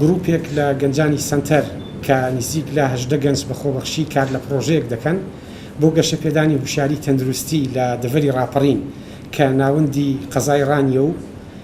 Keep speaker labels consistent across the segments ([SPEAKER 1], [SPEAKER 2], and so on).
[SPEAKER 1] گروپێک لە گەنجانی سەنتەر کە نزیک لە هەژدە گەنج بە خۆبەخشی کار لە پڕۆژەیەک دەکەن بۆ گەشەپێدانی هوشیاری تەندروستی لە دەڤەری ڕاپەڕین کە ناوەندی قەزای ڕانیە و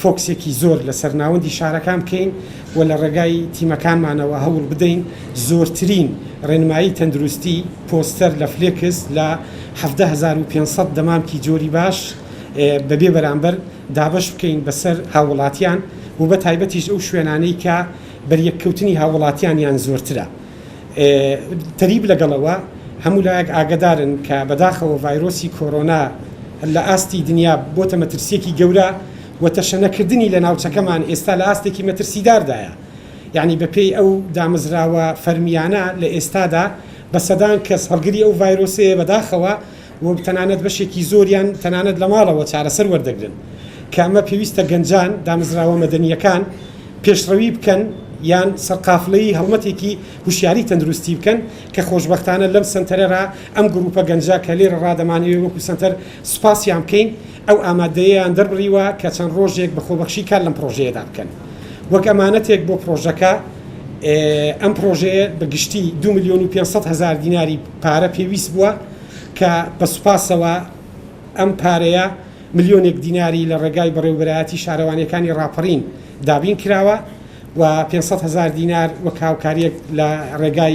[SPEAKER 1] فۆکسێکی زۆر لەسەر ناوەندی شارەکان بکەین و لە ڕێگای تیمەکانمانەوە هەوڵ بدەین زۆرترین ڕێنمایی تەندروستی، پۆستەر لە فلێکس لە حەڤدە هەزار و پێنج سەد دەمامکی جۆری باش بە بێ بەرامبەر دابەش بکەین بەسەر هاووڵاتیان و بە تایبەتیش ئەو شوێنانەی کە بەریەککەوتنی هاووڵاتیانیان زۆرترە. تریب لەگەڵ ئەوە هەموو لایەک ئاگەدارن کە بەداخەوە ڤایرۆسی کۆرۆنا لە ئاستی دنیا بۆتە مەترسیەکی گەورە و تەشەنەکردنی لە ناوچەکەمان ئێستا لە ئاستێکی مەترسیداردایە یانی بە پێی ئەو دامەزراوە فەرمیانە لە ئێستادا بە سەدان کەس هەڵگری ئەو ڤایرۆسەیە بەداخەوە و تەنانەت بەشێکی زۆریان تەنانەت لە ماڵەوە چارەسەر وەردەگرن، کە ئەمە پێویستە گەنجان، دامەزراوە مەدەنییەکان پێشڕەوی بکەن یان سەرقافڵەی هەڵمەتێکی هوشیاری تەندروستی بکەن، کە خۆشبەختانە لەم سەنتەرەرا ئەم گرووپە گەنجە کە لێرەڕا دەمانەوێ وەکوو سەنتەر سوپاسیان بکەین ئەو ئامادەیەیان دەربڕیوە کە چەند ڕۆژێک بە خۆبەخشی کار لەم پڕۆژەیەدا بکەن وەک ئەمانەتێک بۆ پڕۆژەکە ئەم پڕۆژەیە بە گشتی دوو ملیۆن و پێنج سەد هەزار دیناری پارە پێویست بووە کە بە سوپاسەوە ئەم پارەیە ملیۆنێک دیناری لە ڕێگای بەڕێوەبەرایەتی شارەوانییەکانی ڕاپەڕین دابین کراوە و پێنج سەد هەزار دینار وەک هاوکارییەک لە ڕێگای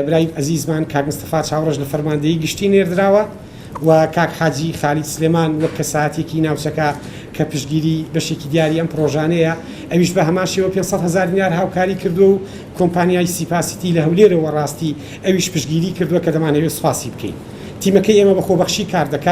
[SPEAKER 1] برای ئەزیزمان کاک مستەفا چاوڕەش لە فەرماندەیی گشتی نێردراوە. و کاک حاجی خالید سلێمان وەک کەسایەتیەکی ناوچەکە کە پشتگیری بەشێکی دیاری ئەم پڕۆژانەیە ئەویش بە هەمان شێوە پێنج سەد هەزار دینار هاوکاری کردووە و کۆمپانیای سیپا سیتی لە هەولێرەوە ڕاستی ئەویش پشتگیری کردووە کە دەمانەوێت سوپاسی بکەین تیمەکەی ئێمە بە خۆبەخشی کار دەکات.